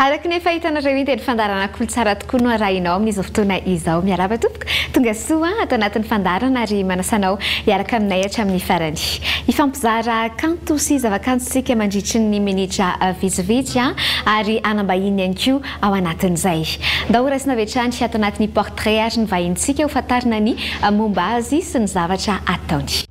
Araka ny efa hitanareo iny dia ny fandaharana Kolotsara tokoa no arahinao amin'izao fotoana izao. Miarahaba tompoko, tonga soa ato anatin'ny fandaharana ary manasa anao hiaraka aminay hatramin'ny farany. Hifampizara kanto sy zavakanto isika mandritry ny minitra vitsivitsy ary hanambahiny ihany koa ao anatin'izay. Ndao horaisina avy hatrany ato anatin'ny portrait ary ny vahinintsika hofantarina ny momba azy sy ny zavatra ataony.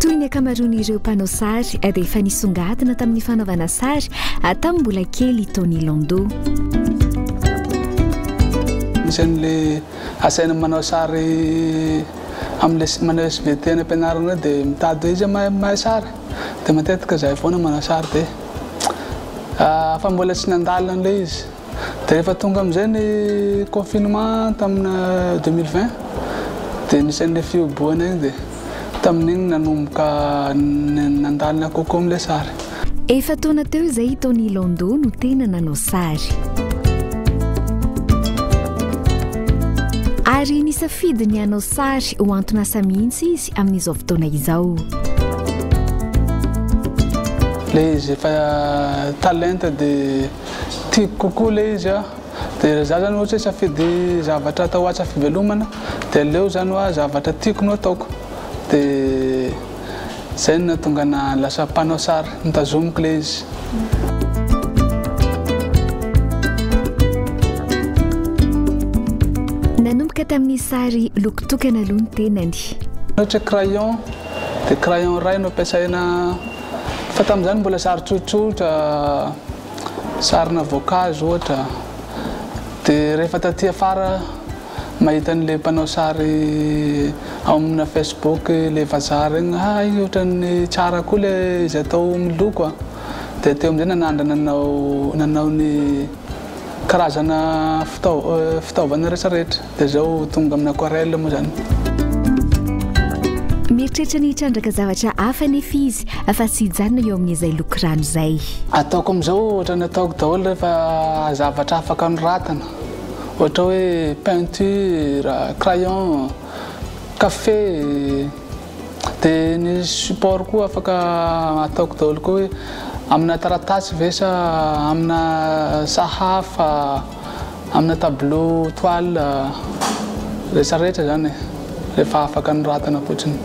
Toy ny ankamaroan'ireo mpanao sary dia efa nisongadina tamin'ny fanaovana sary tamin'ny mbola kely i Tony Landau. Misy an'ilay asaina manao sary amin'ilay manao SVT any am-pianarana ireny dia mitady hoe iza mahay mahay sary dia matetika izahay foana manao sary dia afa mbola tsy nandalo an'ilay izy. Dia rehefa tonga amin'izay ny confinement tamina deux mille vingt dia nisy an'ilay fihobohana iny dia tamin'iny nanomboka nandalina kokoa amin'ilay sary. Efa-taona teo izay i Tony Landau no tena nanao sary. Ary nisafidy ny hanao sary ho anton'asa mihitsy izy amin'izao fotoana izao. Ilay izy efa talenta dia Tiako kokoa ilay izy aho. Dia raha izaho izany ohatra hoe safidy zavatra atao hatsa fivelomana dia aleo izany hoa zavatra tiako no ataoko. Dia izay no nahatonga anah lasa mpanao sary, notazomiko ilay izy. Nanomboka tamin'ny sary loko tokana aloha ny tenany. Ohatra hoe crayon, dia crayon iray no ampiasaina. Fa tamin'izany mbola sary tsotsotra, sarina voankazo ohatra, dia rehefa taty afara mahita an'ilay mpanao sary ao amina Facebook ilay vazaha regny, hay ohatran'ny tsara koa ilay izy atao miloko a! dia teo amin'izay nanandrana nanao nanao ny karazana fitaovana rehetra rehetra. Dia izao tonga amin'ny aquarelle moa izany. Mieritreritra ny hitrandraka zavatra hafa anefa izy fa tsy hijanona eo amin'izay loko rano izay. Ataoko amin'izao ohatran'ny ataoko daholo rehefa zavatra afaka anoratana, ohatra hoe peinture, crayon, kafe. Dia ny support koa afaka ataoko daholo koa hoe amina taratasy ve sa amina sahafa. Amina tableau toile rehetra rehetra izany e, rehefa afaka anoratana fotsiny.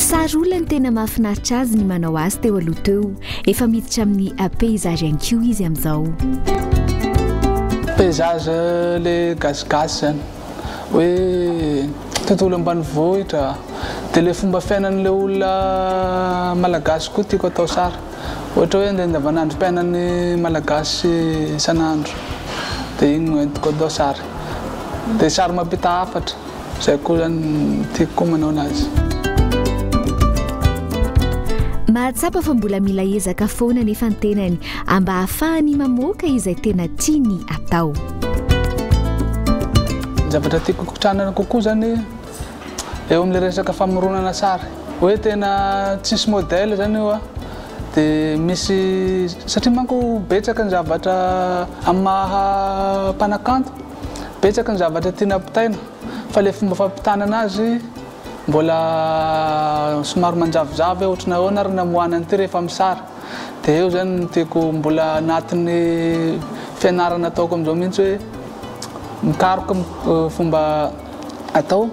Sary olona ny tena mahafinaritra azy ny manao azy teo aloha teo. Efa miditra amin'ny paysage ihany koa izy amin'izao. Paysage le gasigasy izany. hoe tontolo ambanivohitra dia ilay fomba fiainan'ilay olona malagasy koa tiako atao sary ohatra hoe ilay andavanandrom-piainan'ny malagasy isan'andro dia iny no entiko atao sary dia sary mampita hafatra izay koa izany tiako koa manao anazy Mahatsapa fa mbola mila ezaka foana anefa ny tenany mba hahafahany mamoaka izay tena tiany atao. zavatra tiako kotrana kokoa zany eo amin'ilay resaka famoronana sary hoe tena tsisy modèle zany io a de misy satria manko betsaka ny zavatra amin'ny maha mpanakanto betsaka ny zavatra tiana ampitaina fa le fomba fampitana anazy mbola somary manjavozavo hoe ohatran'ny ahoana ary namoahana an'ity rehefa amin'ny sary dia eo zany no tiako mbola anatin'ny fianarana ataoko amin'izao mihitsy hoe mikaroka fomba atao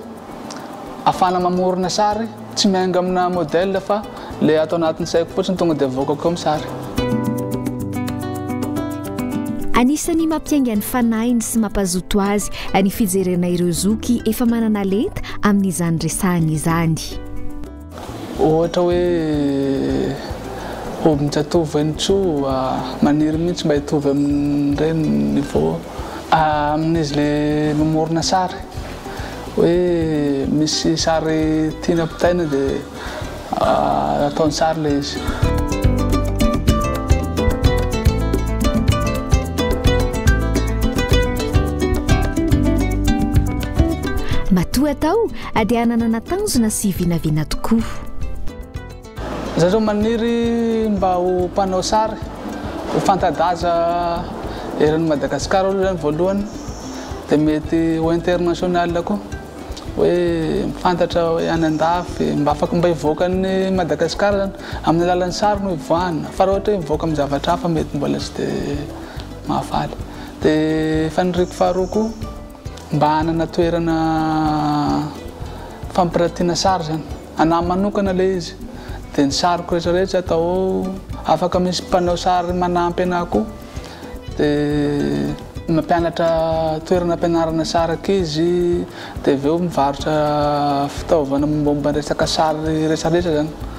afana mamorona sary tsy miainga amina modèle fa le ato anatin'ny saiko fotsiny tonga dia voakako eo ny sary Anisan'ny mampiainga ny fanahiny sy mampazoto azy ny fijerena ireo zoky efa manana lenta amin'izany resahany izany. Ohatra hoe hobby tsy atovy ve ny Tsoa? Maniry mihitsy mba hitovy amin'ireny ny niveau amin'izy ilay mamorona sary hoe misy sary tiany ampitaina dia ataony sary ilay izy. Matoa atao A dia hananana tanjona sy vinavina tokoa. Izay izao maniry mba ho mpanao sary, ho fanta-daza eran'i Madagasikara aloha izany voalohany, dia mety ho international koa, hoe fantatra hoe any an-dafy, mba afaka mba hivoaka an'i Madagasikara izany, amin'ny alalan'ny sary no hivoahana, fa raha ohatra hoe mivoaka amin'ny zavatra hafa mety mbola tsy dia mahafaly. Dia faniriako faharoa koa. Mba hanana toerana fampiratiana sary izany. Anah manokana ilay izy. Dia ny sariko rehetra rehetra atao ao. Afaka misy mpanao sary manampy anah koa. Dia mampianatra toerana hampianarana sary ankizy. Dia avy eo mivarotra fitaovana mombamomba ny resaka sary rehetra rehetra izany.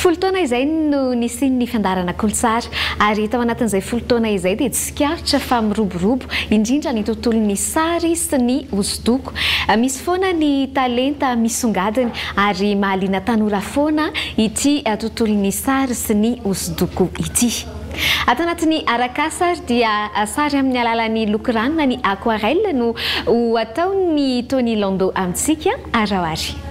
Folo taona izay no nisian'ny fandaharana Kolontsary, ary tao anatin'izay folo taona izay dia tsikaritra fa miroborobo indrindra ny tontolon'ny sary sy ny hosodoko. Misy foana ny talenta misongadina, ary mahaliana tanora foana ity tontolon'ny sary sy ny hosodoko ity. Ato anatin'ny Arakasa ary dia sary amin'ny alalan'ny loko rano na ny aquarelle no ho ataon'i Tony Lando amintsika araho ary.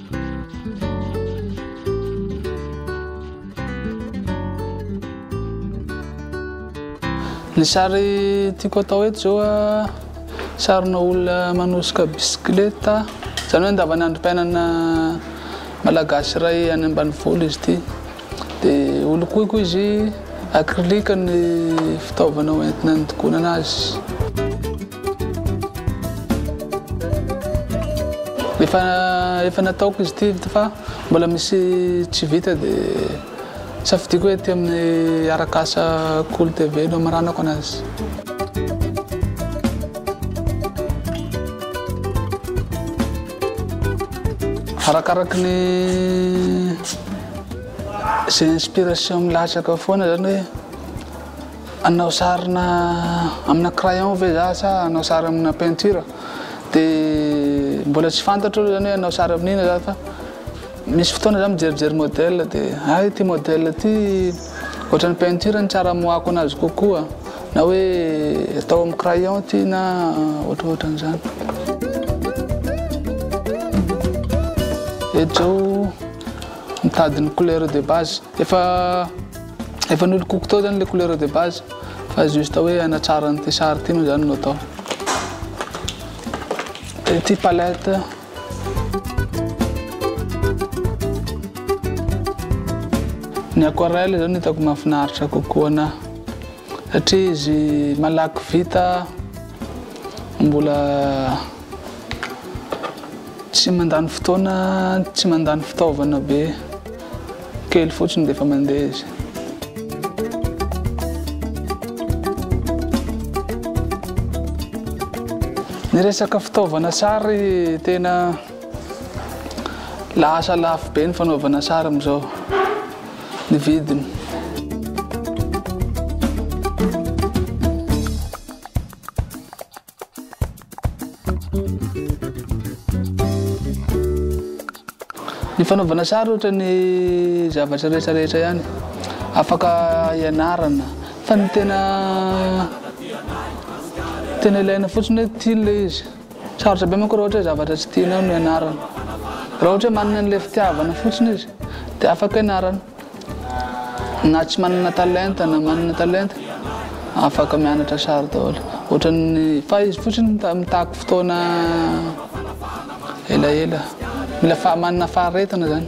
Ny sary tiako atao eto zao a sarina olona manosika bisikileta zany hoe andavanandrom-piainana malagasy iray any ambanivolo izy ity de holokoiko izy acrylique ny fitaovana hoentina andokonana azy. Efa efa nataoko izy ity fa mbola misy tsy vita dia safidiako hoe aty amin'ny Arakasa Cool TV no amaranako anazy. Arakaraky ny izay inspiration milatsaka foana zany hoe Hanao sary amina crayon ve za sa hanao sary amina peinture de mbola tsy fantatro aloha zany hoe hanao sary amin'inona za fa misy fotoana za mijerijery modèle de hay ity modèle ity ohatran'ny peinture no tsara amoahako anazy kokoa na hoe atao amin'ny crayon ity na ohatrohatran'izany. Eto zao. Mitady ny couleur de base. Efa efa nolokoko tao zany le couleur de base fa juste hoe hanatsara an'ity sary ity moa zany no atao. De ity palette Ny aquarelle zao no hitako mahafinaritra kokoa anahy satria izy malaky vita mbola Tsy mandany fotoana, tsy mandany fitaovana be, kely fotsiny dia efa mandeha izy. Ny resaka fitaovana sary tena lasa lafo be ny fanaovana sary amin'izao, ny vidiny. Ny fanaovana sary ohatra ny zavatra rehetra rehetra ihany afaka ianarana fa ny tena tena ilaina fotsiny hoe tiany le izy sarotra be manko raha ohatra hoe zavatra tsy tianao no ianarana raha ohatra hoe manana an'le fitiavana fotsiny izy de afaka ianarana Na tsy manana talenta na manana talenta afaka mianatra sary daholo. Ohatran'ny fa izy fotsiny mitaky fotoana elaela. Mila fa- manana faharetana zany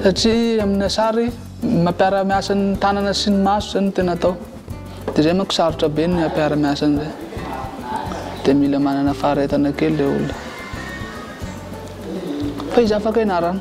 satria amina sary mampiara miasa ny tanana sy ny maso zany no tena atao de zay manko sarotra be ny hampiara miasa an'zay de mila manana faharetana kely le olona fa izy afaka ianarana.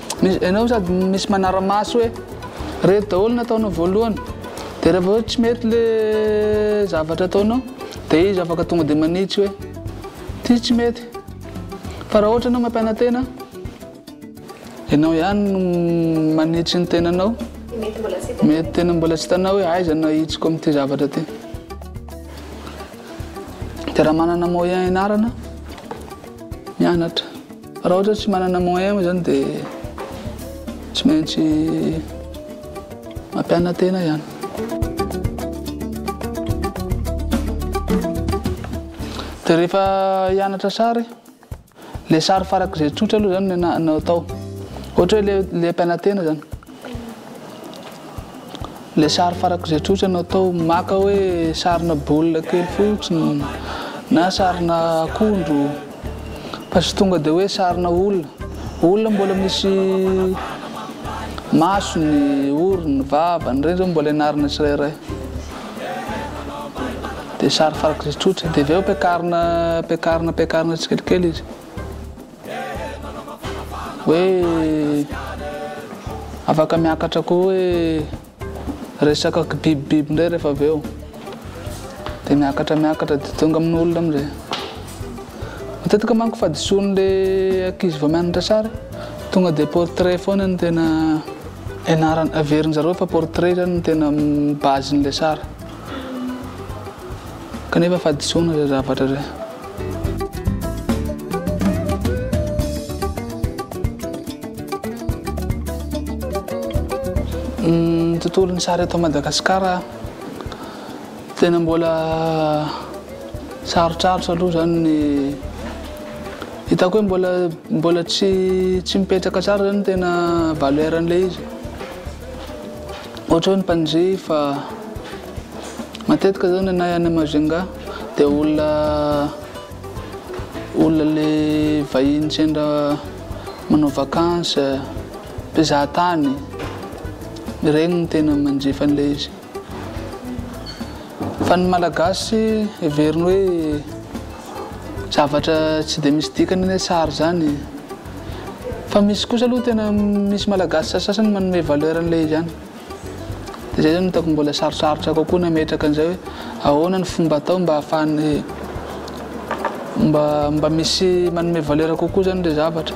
Misy enao sady misy manaramaso hoe reto daholo ny ataonao voalohany de rehefa hoe tsy mety le zavatra ataonao de izy afaka tonga de manitsy hoe ty tsy mety fa raha ohatra enao mampianatena enao ihany no manitsy ny tenanao mety tena mbola tsy hitanao hoe aiza no ahitsiko amin'ity zavatra ty de raha manana moyen ianarana mianatra Raha ohatra hoe tsy manana moyen moa zany dia tsy maintsy mampiana-tena ihany. Dia rehefa hianatra sary, ilay sary farak'izay tsotra aloha zany no atao. Ohatra hoe ilay mpiana-tena zany. Ilay sary farako izay tsotra no atao maka hoe sarina baolina kely fotsiny na sarina akondro fa tsy tonga dia hoe sarina olona. Olona mbola misy masony, orony, vavany, ireny izao mbola ianarana tsirairay. Dia sary farako izay tsotra, dia avy eo ampiakarina, ampiakarina, ampiakarina tsikelikely izy. hoe afaka miakatra koa hoe resaka kibibibiby indray rehefa avy eo de miakatra miakatra de tonga amin'ny olona amizay matetika manko fadisoan'le ankizy vao mianatra sary tonga de portrait foana ny tena ianarana averin-jareo fa portrait zany ny tena base-n'le sary Kanefa fahadisoana ilay zavatra ilay. Ny tontolon'ny sary eto Madagasikara tena mbola sarotrarotra aloha zany ny hitako hoe mbola mbola tsy tsy mipetraka tsara zany tena valeur-n'ilay izy. Ohatra hoe ny mpandre fa matetika zao ny anay any Majunga dia olona olona le vahiny sendra manao vacances, mpizaha tany, regny no tena manjifa an'ilay izy. Fa ny Malagasy heveriny hoe zavatra tsy dia misy dikany anie sary zany e! Fa misy kosa aloha tena misy malagasy sasasasany manome valeur an'ilay izy ihany. Dia izay izany no hitako mbola sarotsarotra kokoa ny hametraka an'izay hoe ahoana ny fomba atao mba hahafahan'ny mba mba misy manome valeur kokoa izany ilay zavatra.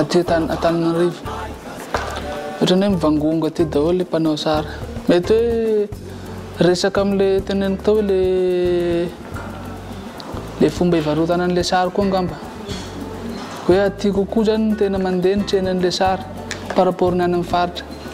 aty Antananarivo. Ohatran'ny hoe mivangongo aty daholo ilay mpanao sary. Mety hoe resaka amin'ilay teneniko tao ilay ilay fomba hivarotana an'ilay sary koa angamba. Hoe aty kokoa izany no tena mandeha ny tsenan'ilay sary par rapport ny any amin'ny faritra.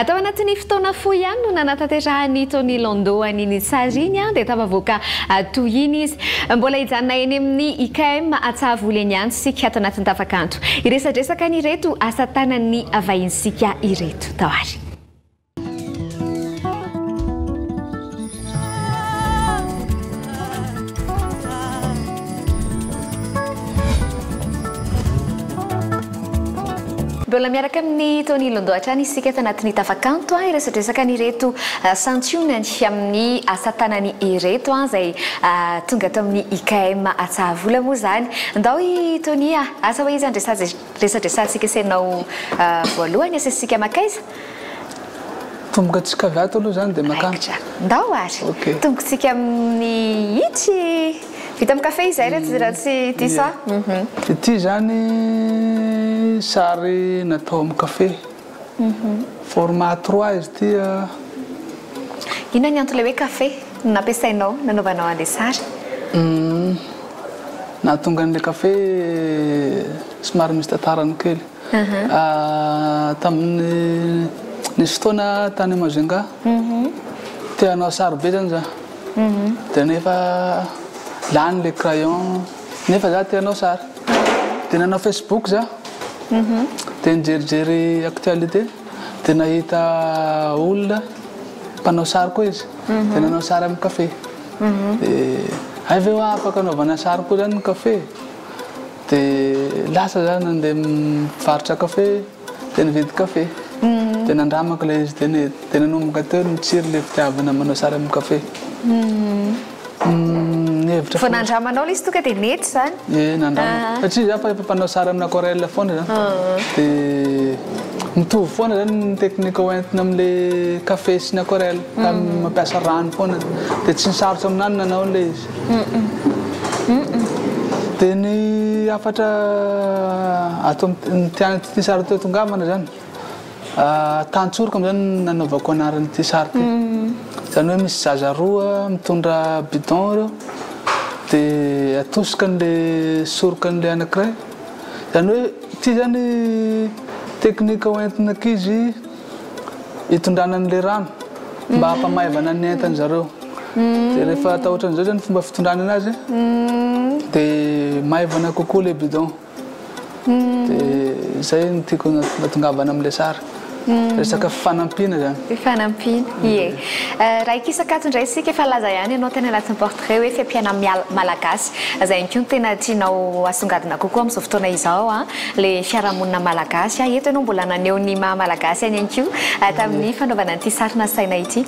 Atao anatin'ny fotoana fohy ihany no nanatanterahany Tony Lando an'i Nitsary iny an, dia tafavoaka toy iny izy. Mbola hijanona eny amin'ny IKM Atsahavoly eny ihany isika ato anatin'ny tafakanto. Hiresadresaka an'ireto asa tanan'ny vahinintsika ireto. Tao ary. Mbola miaraka amin'i Tony Londoha hatrany isika tanatin'ny tafakanto an, hiresadresaka an'ireto santionany amin'ny asa tanany ireto an, izay tonga tao amin'ny IKM Atsahavola moa izany. Ndao i Tony a! Asa hoe iza no resadresahantsika sy ianao voalohany? Asesisika makaiza? Tongotsika avy ato aloha izany dia makany. Raikitra. Ndao ary. Ok. Tongotsika amin'ny itsy. Vita amin'ny kafe izay raha tsy raha tsy diso Ie. aho. Uhum. Ity izany sary natao amin'ny kafe. Format à trois izy ity an. Inona ny antony ilay hoe kafe no nampiasainao nanaovanao an'ilay sary? Nahatonga an'ilay kafe somary misy tantarany kely. Tamin'ny nisy fotoana tany Majunga, te hanao sary be zany za, de nefa lany le crayon, nefa za te hanao sary, de nanao Facebook za, de nijerijery actualité, de nahita olona mpanao sary koa izy, de nanao sary amin'ny cafe, de hay ve hoa afaka anaovana sary koa zany ny cafe e? Dia lasa za nandeha mivarotra kafe dia nividy kafe. Dia nandramako ilay izy dia ne- dia nanomboka teo ny tsiry ilay fitiavana manao sary amin'ny kafe. Nihevitra Vao fo- nandramanao ilay izy tonga dia nety izany. Ie nandramako. Ah. Satria za fa efa mpanao sary amin'ny aquarelle foana za. Dia mitovy foana izany ny teknika hoentina amin'ilay kafe sy ny aquarelle ka mampiasa rano foana. Dia tsy ny sarotra aminahy ny nanao ilay izy. Dia ny hafatra ato amin'ity sary ity tongavana izany, Tantsoroko amin'izao no nanaovako anaran'ity sary ity. Izany hoe misy zaza roa mitondra bidon ireo dia atosika an'ilay soroka an'ilay anankiray. Izany hoe ity izany teknika hoentin'ny ankizy. hitondrana an'ilay rano mba hampamaivana ny entan-dry zareo. Dia rehefa atao ohatran'izao izany fomba fitondrana anazy dia maivana kokoa ilay bidon. Dia izay no tiako natongavana amin'ilay sary. Resaka fifanampiana izany. Fifanampiana, ie. Raha hikisa-kato indray isika, efa laza ihany ianao teny anatin'ny portrait hoe fiampiana malagasy. Izay ihany koa no tena tianao hasongadina kokoa amin'izao fotoana izao. le fiarahamonina malagasy a, eto ianao mbola naneho ny maha malagasy any ihany koa tamin'ny fanaovana an'ity sary nasaina ity.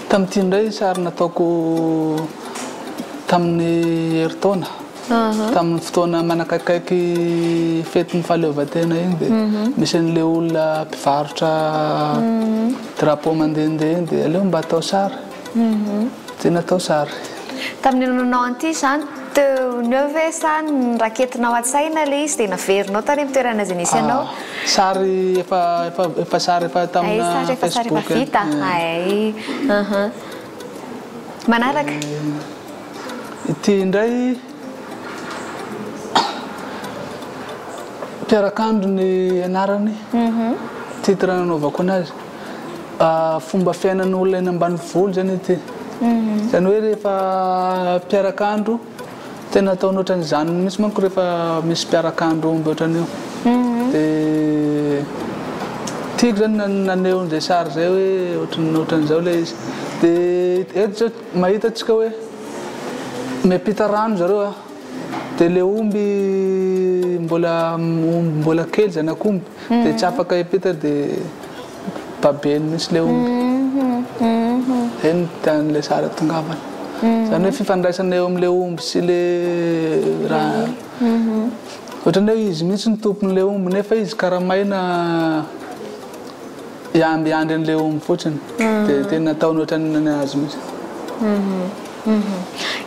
Tamin'ity indray sary nataoko tamin'ny herintaona, tamin'ny fotoana manakaikaiky fetin'ny fahaleovantena iny dia misy an'ilay olona mpivarotra drapeau mandehandeha iny dia aleo mba atao sary. Tsy natao sary. Tamin'io nanao an'ity izany teo neo ve sa niraketinao an-tsaina ilay izy dia naverinao tany amin'ny toerana izay nisy anao? Sary efa efa efa sary efa tamina Facebook. Hay sary efa sary efa vita hay. Manaraka. Ity indray mpiarakandro ny anarany titre nanaovako anazy. Fomba fiainan'ny olona eny ambanivolo izany ity. Mhm. Izany hoe rehefa mpiaraka andro, tena ataony ohatran'izany mihitsy manko rehefa misy mpiaraka andro omby ohatran'io. Mhm. De tiako zany naneho an'izay sary izay hoe ohatran'ny ohatran'izao ilay izy. De eto zao mahita antsika hoe miampita rano zareo a, de le omby mbola omby mbola kely zanak'omby de tsy mhm. afaka hiampita de. babeny mintsy le omby zay no tiany le sary atongavana zany hoe fifandraisana eo amle omby sy le raha ohatrany hoe izy mintsy no tomponle omby nefa izy kara maina hiambiamby anle omby fotsiny de tena ataony ohatrany azy mintsy.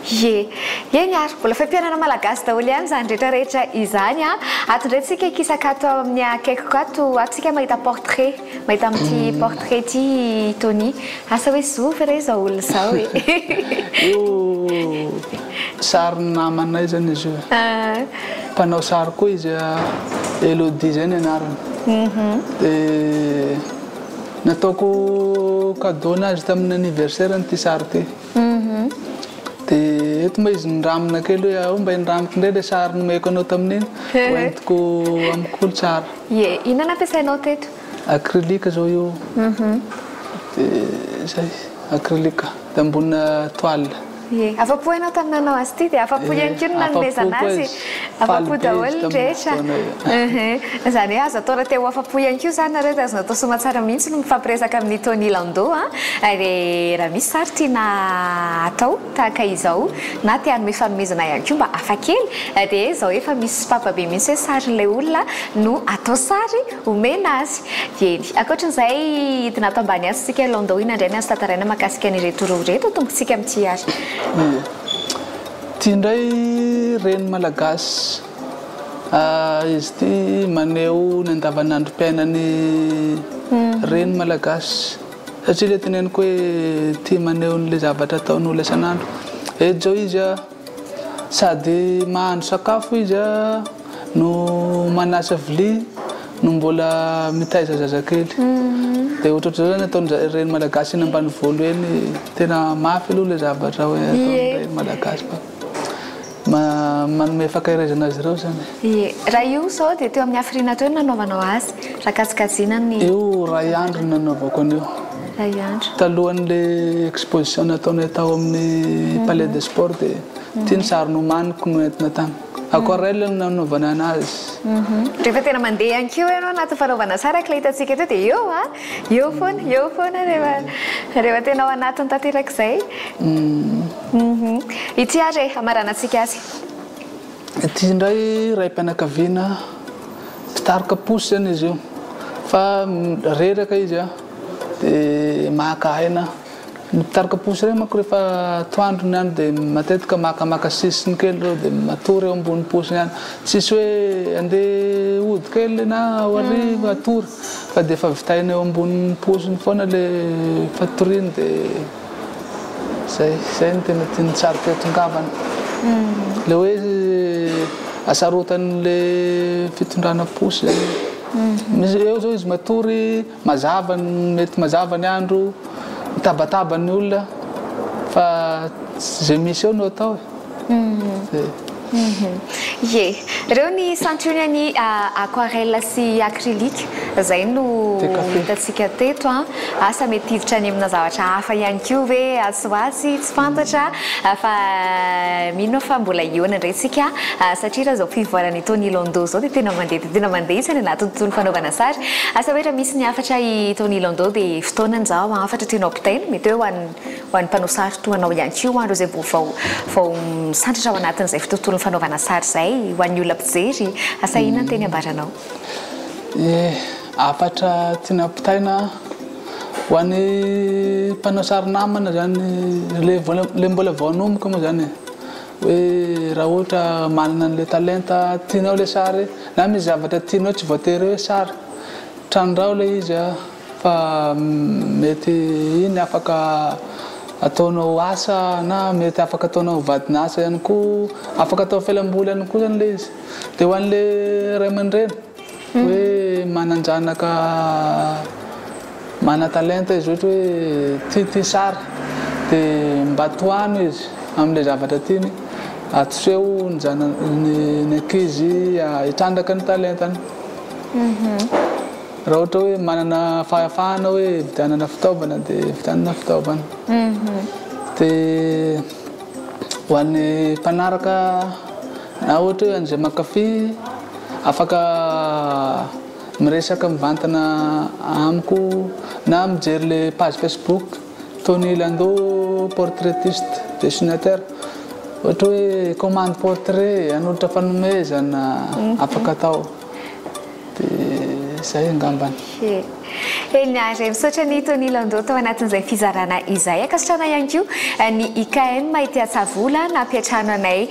Ye. Eny ary, mbola fampianana malagasy daholo ihany izany rehetra rehetra izany an! Ato indray tsika hikisaka ato amin'ny akaikiko ato, ato tsika mahita portrait, mahita amin'ity portrait ity i Tony. Asa hoe zovy ve re izao olona izao e? Io sarin'ny namanay izany izy io e. Mpanao sary koa izy, Elodie izay ny anarany. Dia nataoko cadeau an'azy tamin'ny anniversaire-ny ity sary ity. Dia eto mba izy niramina kely hoe ao mba hiniramiko indray ilay sary nomeko anao tamin'iny, hoentiko amiko olo tsara. Ie, inona no ampiasainao teto? Acrylique izao io, dia izay, acrylique, dia ambonina toile. Ie, afa-po ianao tamin'ny nanao azy ity dia afa-po ihany koa ny nanomezana azy Afa-po daholo ny rehetra. Izany hoe azo atao raha te ho afa-po ihany koa izany nareo dia azonao atao soamantsara mihitsy ny mifampiresaka amin'i Tony Lando a! Dia raha misy sary tiana atao tahaka izao na te hanome fanomezana ihany koa mba hafa kely dia izao efa misy sopapa be mihitsy hoe sarin'ilay olona no atao sary omena azy. Eny, ankoatran'izay hidina ato ambany atsy isika Lando inona indray ny azo tantaraina mahakasika an'ireto roa ireto tompon-tsika amin'ity ary? Ity indray reny malagasy ah izy ity maneho ny andavanandrom-piainan'ny reny malagasy satria ilay teneniko hoe tia maneho an'ilay zavatra ataon'olona isan'andro eto izao izy ah sady mahandro sakafo izy ah no manasa vilia no mbola mitaiza zazakely de ohatrotry zao zany ataon'ny reny malagasy eny ambanivolo eny tena mafy aloha le zavatra hoe ataon'ny reny malagasy fa manome fankahirezana azy ireo zany ie raha io zao de teo amin'ny hafiriana teo no nanaovanao azy raha kajikajina ny io ray andro no nanaovako an'io ray andro talohan'le exposition nataonay tao amin'ny palais de sport de ty ny sary nomaniko no entina tany Aquarelle no nanaovana anazy. Rehefa tena mandeha ihany koa ianao anaty fanaovana sary araka ilay hitantsika teo dia eo an! Eo foana, eo foana rehefa rehefa tena ao anatiny tanteraka izay. Ity ary e, hamaranantsika azy. Ity indray raim-pianakaviana mpitarika posy izany izy io fa reraka izy dia maka aina. Ny mpitaroka posy ireny manko rehefa atoandro ny andro dia matetika makamaka sisiny kely ireo dia matory eo ambony posy ihany. Tsisy hoe andeha hody kely na ao hariva hatory fa dia efa vitaina eo ambony posiny foana ilay fatoriany dia izay. Izay no tena tian'ny tsariko eto ngambany. Ilay hoe asarotan'ilay fitondrana posy izany. Eo izao izy matory. Mazava ny mety mazava ny andro mitabataba ny olona fa tsy ze misy eo no atao e! Ie. Reo ny santionny an'i aquarelle sy acrylique zay no hitantsika teto an! Asa mety hiditra any amina zavatra hafa ihany koa ve atsy ho atsy? Tsy fantatra fa mino aho fa mbola hihaona indray isika satria raha izao fivoaran'i Tony Landau izao dia tena mandeha dia tena mandeha isany anaty tontolo fanaovana sary. Asa hoe raha misy ny hafatra i Tony Landau dia fotoanany izao hafatra tianao ampitaina, mety hoe ho an'ny ho an'ny mpanao sary toa anao ihany koa, ho an'ireo izay mbola vao vao misandratra ao anatin'izay tontolon'ny fanaovana sary izay, ho an'ny olona mpijery. Asa inona ny teny ambaranao? Ny hafatra tiana ampitaina ho an'ny mpanao sary namana zany le mbola vao hanomboka moa zany e, hoe raha ohatra manana an'le talenta tianao le sary na misy zavatra tianao tsy voatery hoe sary, trandraho le izy a fa mety iny afaka ataonao asa na mety afaka ataonao vadin'asa ihany koa, afaka atao fialamboly ihany koa zany le izy. Dia ho an'ilay ray aman-dreny hoe manan-janaka manan-talenta izy ohatra hoe tia ity sary dia mba tohano izy amin'ilay zavatra tiany, atoseho ny zanany, ny ankizy hitrandraka ny talentany. Raha ohatra hoe manana fahafahana hoe hividianana fitaovana dia vidianana fitaovana. Dia ho an'ny mpanaraka. Na ohatra hoe an'izay mankafy, afaka miresaka mivantana amiko na mijery le page Facebook Tony Lando portraitiste dessinateur ohatra hoe commande portrait hanolotra fanomezana afaka atao. dia zay angambany. Eny ary, misaotra ny Tony Landau tao anatin'izay fizarana izay. Ankasitrahana ihany koa ny IKM ety Antsavola nampiantrano anay,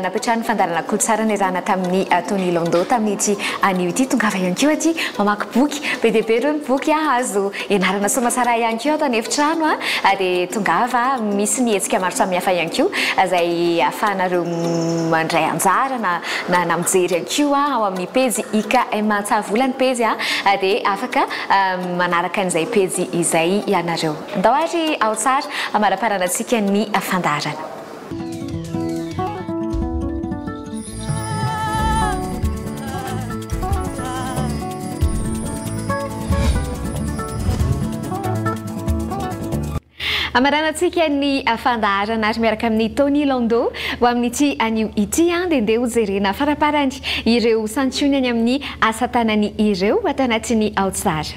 nampiantrano ny fandaharana Kolotsara niarahana tamin'i Tony Landau tamin'ity anio ity. Tongava ihany koa aty mamaky boky, be dia be ireo ny boky azo Ianarana Soamasara ihany koa ato an'efitrano a, ah, dia tongava a, misy ny hetsika maro samihafa ihany koa ah, izay ahafahanareo mandray anjara na, na, na mijery ihany koa ao amin'ny pejy IKM Antsahavola ny pejy a, ah, dia afaka ah, manaraka an'izay pejy izay ianareo. Ndao ary ao tsara hamaraparana antsika ny fandaharana. Amaranantsika ny fandaharana ary miaraka amin'ny Tony Lando ho amin'ity anio ity an, dia ndeha ho jerena faraparany ireo santionany amin'ny asa tanany ireo ato anatin'ny Ao Tsara.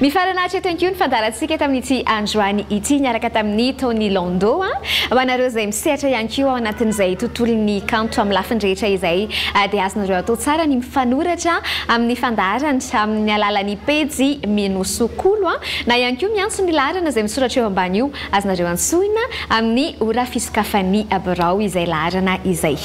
Mifarana hatreto ihany koa ny fandaharantsika tamin'ity androany ity niaraka tamin'ny Tony Lando a. Ah. Ho anareo izay misehatra ihany koa ao anatin'izay tontolon'ny kanto amin'ny lafiny rehetra izay ah, dia azonareo atao tsara ny mifanoratra amin'ny fandaharany amin'ny alalan'ny pejy Minosokolo a. Ah. Na ihany koa miantso ny laharana izay misoratra eo ambany io Azonareo antsoina amin'ny ora fisokafan'ny birao izay laharana izay.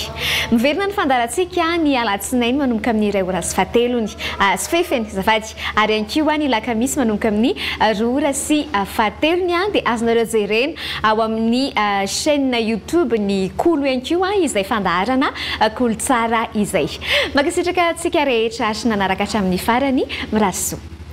Miverina ny fandaharantsika ny alatsinainy manomboka amin'ny iray ora sy fahatelony sy fahefany azafady ary ihany koa ny lakamisy manomboka amin'ny roa ora sy fahatelony dia azonareo jerena ao amin'ny chaine youtube ny kolo ihany koa izay fandaharana kolo tsara izay. Mankasitraka antsika rehetra ary nanaraka hatramin'ny farany. Mirary soa.